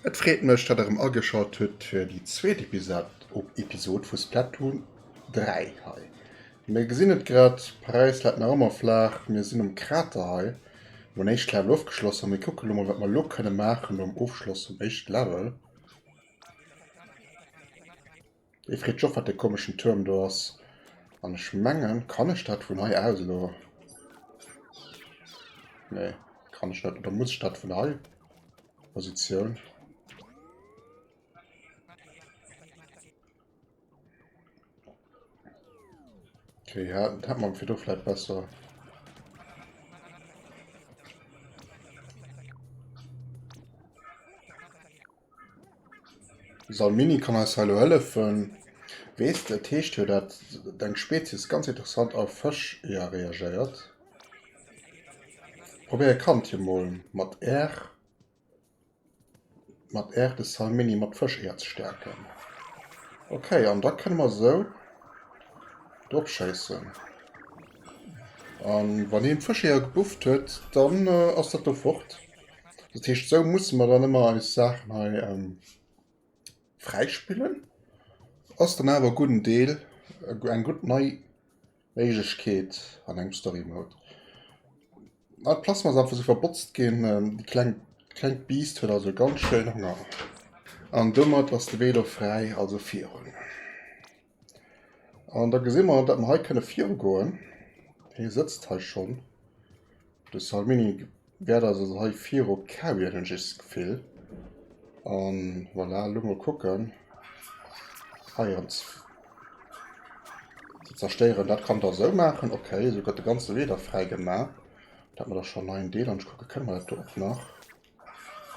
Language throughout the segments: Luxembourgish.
Et freet mech dat der erem ageschalt hutt fir déi zweet Episode vu Splatoon 3 hei. Mir gesinn et grad, Paräis läit nach ëmmer flaach. Mir sinn um Krater hei, wou en éischt Level ofgeschloss ass. Mir kucke lo mol, wat mer elo kënne maachen nom Ofschloss vum éischte Level. Et freet sech och, wat dee komeschen Tuerm do ass. An ech mengen, kann ech dat vun hei aus elo? Nee, kann ech net. Oder muss ech dat vun hei? Positioun. Okay, ja, das hat man für du vielleicht besser. Salmini kann als Hallo helfen. Weißt du, Tisch hier, das dein Spezies ganz interessant auf Fisch ja, reagiert. Probier kann hier mal mit R. Mat R de Salmini mat Fësch hierzestäerken. Ok, an da kënne mer esou drop schéissen. A wann hien d'Fëscheeër gebufft huet, dann ass dat do fort. Dat heescht, esou musse mer dann ëmmer eis Saachen hei fräispillen. Ass dann awer e gudden Deel, eng gutt nei... Méiglechkeet an engem Story Mode. Ah, d'Plasma ass einfach so verbotzt ginn. Ähm, die kleng, klengt Biest huet also ganz schön Hunger. An domat ass de Velo frei, also virun. An da gesinn wir, dass wir hei können virgoen. Hie sitzt hei schon. De Salmini wäert also hei virop kauen, hunn ech eescht d'Gefill. A voilà, elo mol kucken. Hei an ze zerstéieren. Dat kann der esou maachen. Okay, esou gëtt de ganze Wee da fräi gemaach. Dat hat mer da schonn hei en Deel. An ech kucke, kënne mer dat do och nach?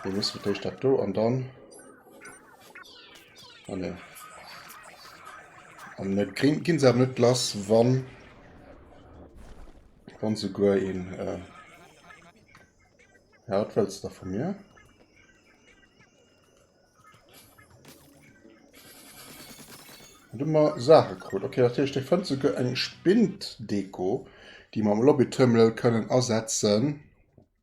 Mir mussen fir d'éischt dat do an dann. Ah ne. An net grin ginn se awer net lass, wann wann souguer een äh, ja, wat wëlls da vu mir? Dummer Sache krut. Okay, dat heescht, de fënnt souguer eng Spind-Deko, déi mer am Lobby-Terminal kënnen asetzen.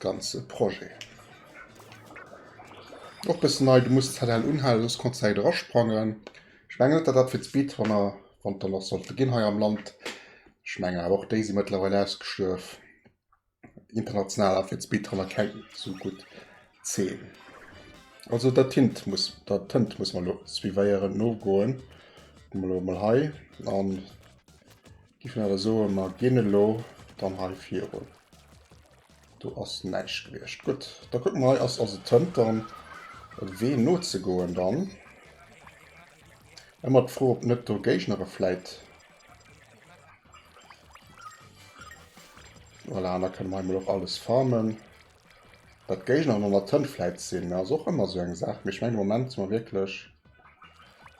ganze Projet. Och bessen nei, du muss de ZL unhalen soss konns de hei dra sprangen. Ech mengen net dat dat fir d'Speed Runner wann der nach sollte ginn hei am Land, ech mengen awer och déi si mëttlerweil ausgestuerf. International ass fir d'Speed Runner keng sou gutt Zeen. Also der Tint muss der Tënt muss mer lo suivéieren nogoen. Kucke mer lo emol hei an. Giff mer e soen mer ginn elo dann hei virun. Do ass näischt gewiescht. Gutt, da kucke mer hei ass ass et Tënt dann e Wee nozegoen dann. Ëmmer d'Fro ob net do Géignere vläit. Voilà, an da kënne mer hei mol och alles farmen. Datt d'Géigner an der Tënt vläit sinn ass och ëmmer esou eng Saach, mee ech mengen de Moment si mer wierklech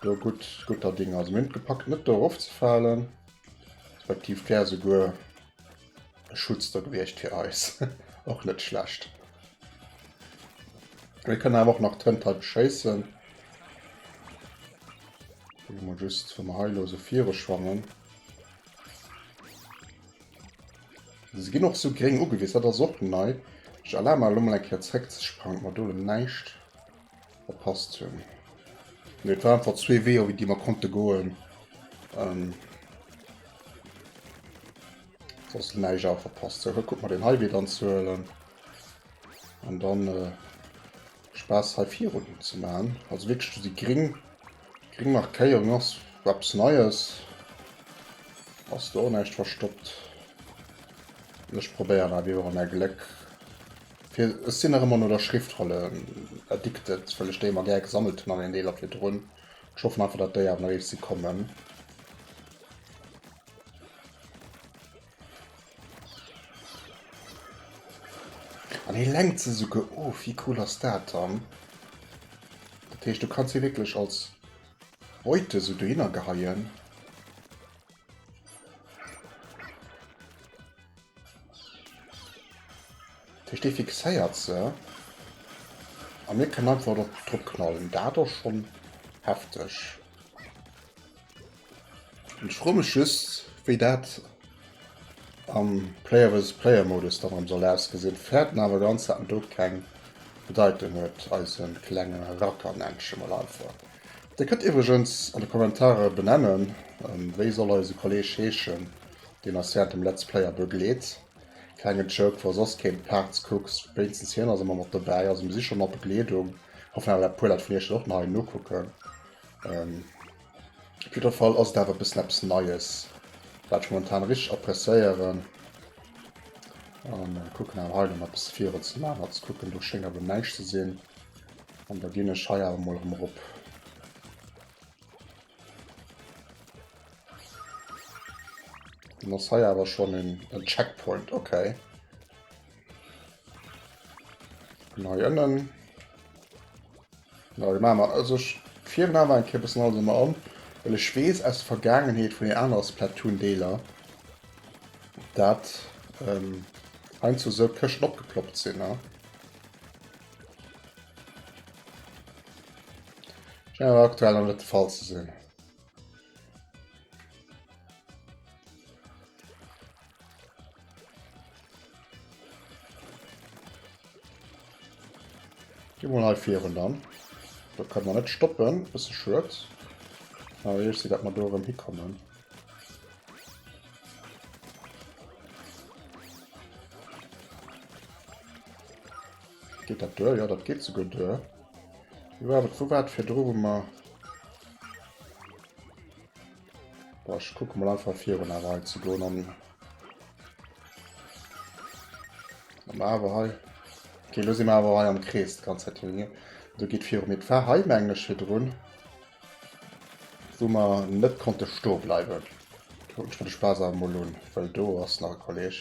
do gutt, gutter Dinger. Also mir hunn et gepackt net do erof ze falen, respektiv d'wär esouguer e Schutz do gewiescht fir eis, och net schlecht. Mir kënnen awer och nach d'Tënt hei beschéissen. Kucke mol just, wa mer hei elo esou viru schwammen. Se ginn och sou gréng ugewies, dat ass och nei. Ech erlabe mer elo mol eng Kéier zréck ze sprangen, ob mer do elo näischt verpasst hunn. Mee et war einfach zwee Wee, iwwer déi mer konnte goen. Ähm, soss näischt awer verpasst. Sou, da kucke mer deen hei Wee dann ze huelen. An dann äh, Spaass hei virun hin ze man also wierklech do déi gring gring Markéierung ass eppes neies ass do och näischt verstoppt an ech probéieren nach ewéi och an är Gléck fir ech sinn nach ëmmer no der Schriftrolle addicted well ech déi ëmmer gär gesammelt hunn an een Deeler virdrun ech hoffen einfach dat déi awer nach iech si kommen. An hie lenkt se souguer of, wéi cool ass dat dann? Dat heescht, du kanns hie wierklech als Beute esou dohinner geheien. Dat heescht, dee fixéiert se a mir kënnen einfach drop knallen. Dat ass schonn hefteg. Ech froe mech just wéi dat am Player versus Player Modus dann erem soll ausgesinn, fäert en awer ganz dat en do keng Bedeitung huet, eise klenge Racker nennt ech e mol einfach. Dir kënnt iwwregens an de Kommentare benennen, wéi soll eise Kolleg heeschen deen eis während dem Let's Player begleet. Klenge Joke, wa soss keen d'Parts kucks, wéinstens hien ass ëmmer mat dobäi, also mir si scho mat Begleedung, hoffen awer dat puer Leit vun iech dat och nach hei nokucken. Op jidder Fall ass et awer e bëssen eppes Neies, wat ech momentan richteg appréciéieren. An äh, kucken awer hei nach eppes virun ze maachen, ze kucken, do schéngt awer näischt ze sinn. An da ginn ech hei awer mol rëm rop. Dann ass hei awer schon en, en Checkpoint, okay. Nei ënnen. Ja, ma mer also virun awer eng Kippes alles immer an. Well ech wees aus Vergangenheet vun den aner Splatoon-Deeler, dat ähm, ein zu so Këschten opgeploppt sinn. Ne? Schein awer aktuell an net Fall ze sinn. Geh mal hei vieren dann. Da können wir nicht stoppen. Das ist schön. Aber ich sehe, dass wir da oben hinkommen. Geht das durch? Ja, das geht sogar durch. Ja, aber wo war das für drüben mal? Boah, ich gucke mal einfach vier und aber halt zu gehen an. Aber halt. Okay, los immer aber halt am Kreis, ganz halt hier. Du geht vier mit fahr heim eigentlich hier drin. Wo man nicht konnte stehen bleiben. Guck, ich würde Spaß am Molun, weil du hast noch ein Kollege.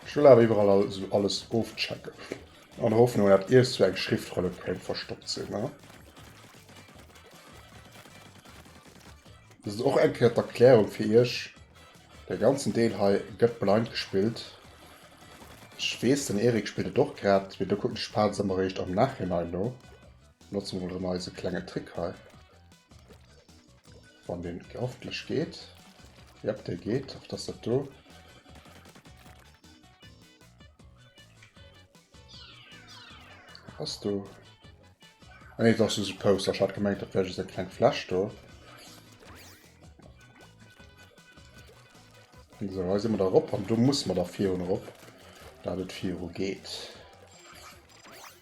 Ech wëll awer iwwerall also alles ofchecken. An der Hoffnung, datt iergstwou eng Schriftrolle kéint verstoppt sinn, ne? Dëst ass och eng Kéier d'Erklärung fir iech. Dee ganzen Deel hei gëtt blind gespillt. Ech weess, den Erik spillt et och grad, mee do kucken ech d'Phasen ëmmer eréischt am Nachhinein no. Notze mol erëm eise klenge Trick hei. Wann den hoffentlich geht. Ja, der geht auf das Tattoo. Hast du? Ah, nee, das ist ein Poster. Ich hatte gemeint, das wäre so ein kleines Flash da. So, da sind wir da rauf und du musst man da vier und rauf. Da das vier geht.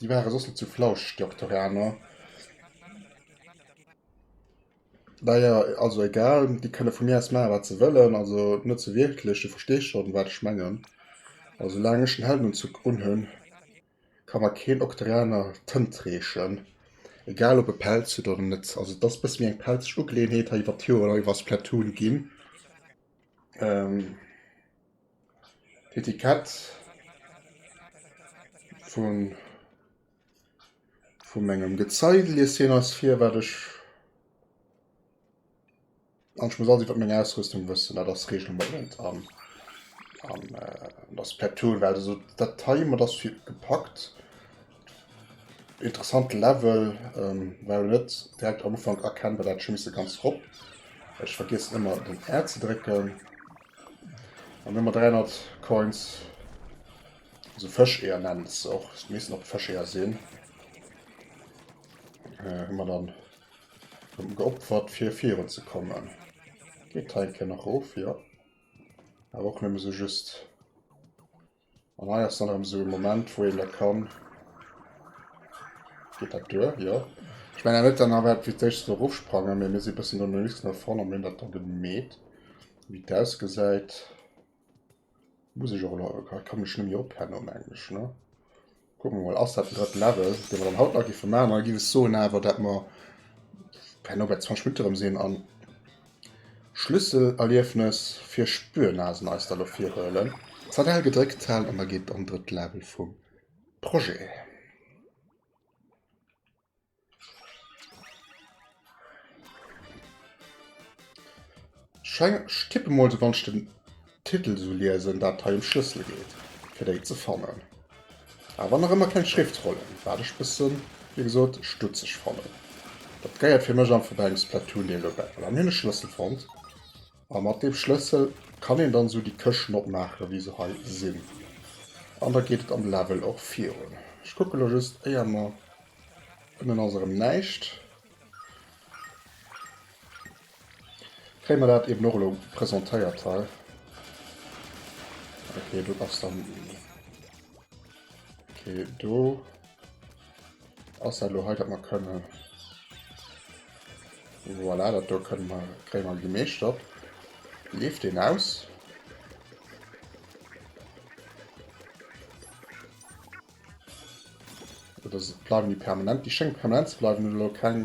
Déi ware soss net sou flauscheg, déi Oktorianer. Naja, also egal, déi kënne vu mir aus maachen, wat se wëllen. Also net sou wierklech, du verstees schonn, wat ech mengen. A soulaang ech den Heldenunzuch unhunn, ka mer keen Oktorianer d'Hënnt reechen. Egal, ob e Pelz huet oder net. Also et ass e bësse méi eng pelzeg Ugeleeënheet hei iwwert d'Joren, hei iwwer Splatoon ginn. D'Etikett vun vu mengem Gezei liest hien eis vir, wat ech an ech muss alles iwwert meng Ausrüstung wëssen, dat ass Reegel Nummer 1 an an dat ass per Tool well also dat hei mat ass fir gepackt. Interessant Level war net direkt am Ufank erkennbar, dat hätt ech scho misse ganz rop, ech vergiessen ëmmer den R ze drécken. Dann hun mer 300 Coins, also Fëscheeër nennen se se och, et missten och Fëscheeër sin, hun mer dann geopfert fir virun ze kommen. Geet hei eng Kéier nach of? Jo. Awer och nëmme sou just. An hei ass dann erëm esou e Moment, wou een dat kann. Geet dat duer? Jo. Ech mengen net dann awer fir d'éischt do rofsprangen, mee mir si bëssen do no links no vorn an hunn dat do gemeet, wéi et ausgesäit. Muss ech och elo, kann ech mech net méi ophennen, mengen ech, ne? Kucken mer mol, ass dat den drëtten Level, dee mer dann haut nach giffe maachen. Dann giff ech soen awer, dat mer herno bei 20 Minutte rëm sinn an Schlüsselerliefnes fir Spürnasen eis da lo virhuelen. ZL gedréckt halen an da geet et an drëtt Level vum Projet. Scheng, ech tippe mol se wann ech den Titel sou liesen, dat hei em Schlëssel geet fir déi ze fannen. Awer nach ëmmer keng Schriftrollen, wat ech bëssen, wéi gesot, stutzeg fannen. Dat geiert fir mech einfach bei engem Splatoon-Deel dobäi. Voilà, mir hunn e Schlëssel fonnt. A mat deem Schlëssel kann een dann esou déi Këschten opmaachen, wéi se hei sinn. An da geet et am Level och virun. Ech kucke lo just, éier mer. Ënnen ass erëm näischt. Kréie mer dat eben och elo presentéiert hei. Okay, do ass dann. Okay, do. Ass dat lo hei, dat mer kënne. Voilà, dat do kënne mer, kréie mer gemeeschtert. Leeft deen aus? Oder bleiwen déi permanent? Déi schénge permanent ze bleiwen, hunn elo keng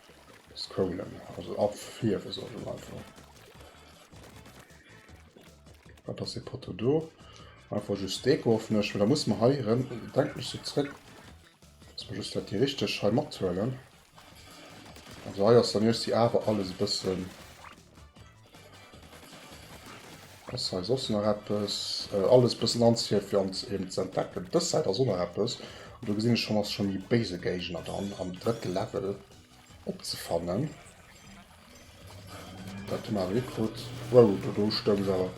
Scrollen, also afierwen soll ech einfach. Wat ass dee Poteau do? Einfach just Deko hoffen ech, da muss man hei rem, denkt mech so zréck, dass man just dat déi richteg hei mathuelen. Also hei ass dann just déi awer alles e bëssen. Ass hei soss nach eppes? Äh, alles bëssen anzefir fir ons eben ze entdecken. Dës Säit ass och nach eppes. Und do gesinn ech schon, ass schon méi béise Géigner dann am drëtte Level opzefannen. Dat hun awer net krut. Wow, do, do stoung se awer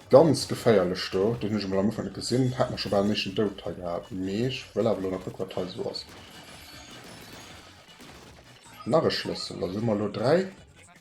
ganz geféierlech do. Den hun ech emol am Ufank net gesinn. Hat mer schon bal den éischten Dout hei gehat. Mee ech wëll awer elo nach kucken, wat hei sou ass. Nach e Schlëssel. Also hu mer elo 3.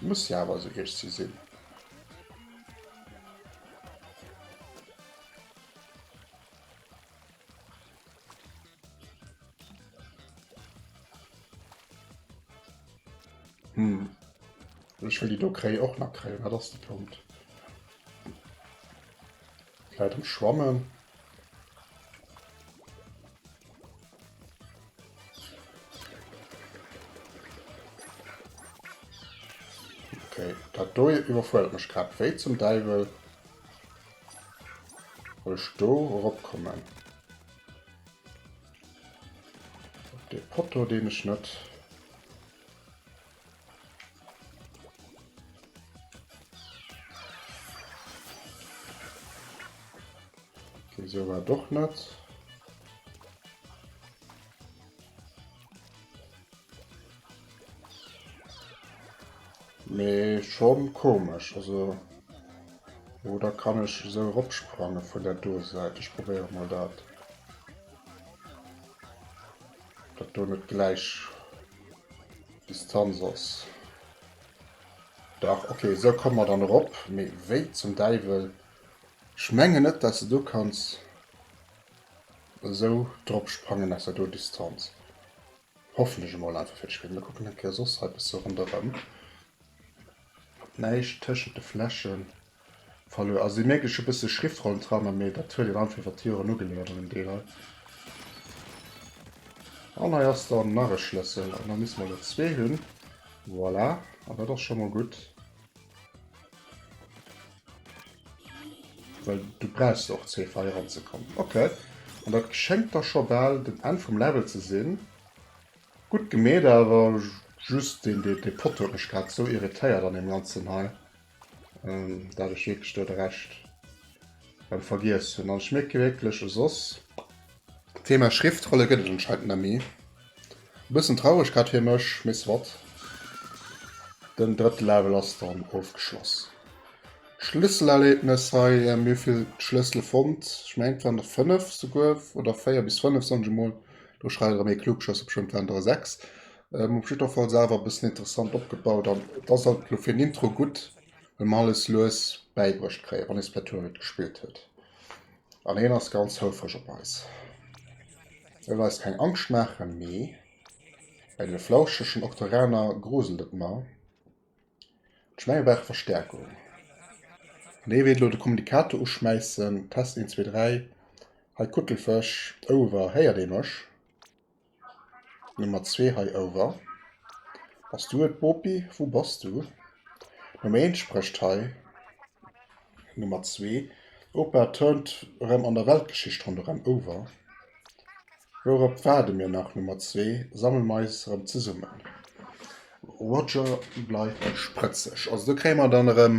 Muss ja awer sou hiecht si sinn. Hm. Ech will die do kréi och nach kréien, dat ass de Punkt. Vläit am Schwammen. Okay, dat do iwwerfuerdert mech grad wéi zum Däiwel. Wëll ech do eropkommen? Op de Potto, deen ech net Okay, so war doch net. Me schon komisch also oder kann ich so opsprange vu der Doseite ich probéiere mal dat. Dat do net gläich Distanz ass. Dach, ok, esou komme mer dann erop. Mee wéi zum Däiwel? Ech menge net, dass de do kanns esou drop sprangen aus der do Distanz. Hoffen ech emol einfach fir d'Spill. Mir kucken eng Kéier soss hei e bësse ronderëm. Näischt tëschent de Flächen. Verluer. Also déi mierkt ech e bësse Schriftrollen dran, mee dat huet een einfach iwwert d'Joren ugeleiert an dem Deel hei. An hei ass dann nach e Schlëssel an da misse mer elo zwee hunn. Voilà, an dat ass scho mol gutt. Well du brauchst och zwee fir hei eranzekommen. Okay. An dat schéngt da scho bal den Enn vum Level ze sinn. Gutt gemeet, awer just dee Poteau huet mech grad esou irritéiert an deem Ganzen hei. Ähm, dat ech wierklech do de Rescht rem vergiess hunn. An ech mierke wierklech e soss, d'Thema Schriftrolle gëtt et anscheinend net méi. E bëssen traureg grad fir mech, mee soit. Den drëtte Level ass dann ofgeschloss. Schlësselerlebnes hei, ähm, mir hu vill Schlëssele fonnt. Ech mengen, et waren der fënnef souguer, oder véier bis fënnef, soen ech emol. Do schreift erëm ee Klugschësser, beschtëmmt waren et der sechs. Op jiddwerfalls awer e bëssen interessant opgebaut an et ass alt elo fir en Intro gutt, well mer alles lues bäibruecht kréien, wann ee Splatoon net gespillt huet. An hien ass ganz houfreg op eis. E wëll eis keng Angscht maachen, mee bei deene flauschegen Octoraner gruselt et mer. Ech mengen, mir brauche Verstäerkung. An hie wéilt elo de Kommunikator uschmäissen. Test, eent, zwee, dräi. Hei Kuttelfësch, Over, héiert ee mech? Nummer zwee hei ouwer. Bass du et Bopi? Wou bass du? Nummer eent sprécht hei. Nummer zwee. Opa turnt erëm an der Weltgeschicht ronderëm ouwer. Wourop waarde mir nach? Nummer zwee. Sammele mer eis erëm zesummen. Roger bleift sprëtzeg. Also do kréie mer dann erëm.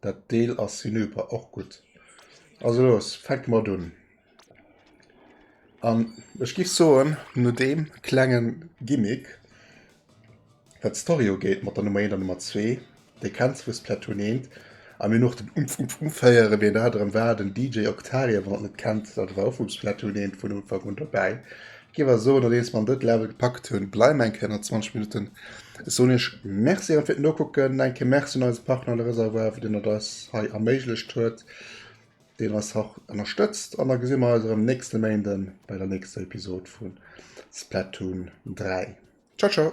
Dat Deel ass hinüber, och gutt. Also los, fänke mat un. An ech giff soen, no deem klengen Gimmick, wat d'Story ugeet mat der Nummer 1 an Nummer 2, déi kennt zwou Splatoon 1, a mir nach den Umph Umph Umph héieren, wien dat erëm war, den DJ Octarian, wann der net kennt, dat war och vum Splatoon 1 vun Ufank un dobäi, Géif awer soen, nodeems mer an dëtt Level gepackt hunn, bleiwe mer eng Kéier nach 20 Minutten. Ech soen iech Merci erëm fir d'Nokucken. Eng Kéier Merci un eise Partner Le Réservoir, deen et eis hei erméiglecht huet, deen eis hach ënnerstëtzt. An da gesi mer eis erëm nächste Méinde bei der nächster Episod vu Splatoon 3. Ciao ciao!